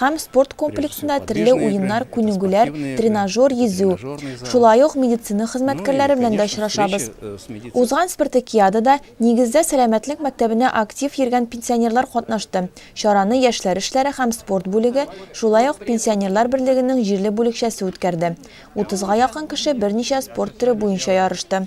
һәм спорт комплексында төрле уеннар, күнегүләр, тренажер, йөзү, шулай ук медицина хезмәткәрләре белән дә очрашабыз. Узган спартакиадада, нигездә, сәламәтлек мәктәбенә актив йөргән пенсионерлар катнашты, чараны яшьләр эшләре һәм спорт бүлеге, шулай ук пенсионерлар берлегенең җирле бүлекчәсе үткәрде. Утызга якын кеше берничә спорт төре буенча ярышты.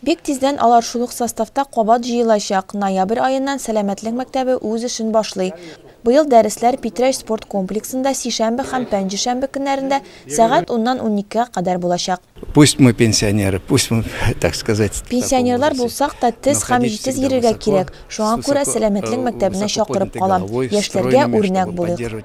Бик тиздән алар шул ук составта кабат җыелачак, ноябрь аеннан Сәламәтлек мәктәбе үз эшен башлый. Быел дәресләр Питрәч спорт комплексында сишәмбе һәм пәнҗешәмбе көннәрендә сәгать уннан уникегә кадәр булачак. Пусть мы пенсионеры, пусть мы, так сказать, Пенсионерлар булсак та, тез һәм җитез йөрергә кирәк, шуңа күрә Сәламәтлек мәктәбенә чакырып калам, яшьләргә үрнәк булыйк.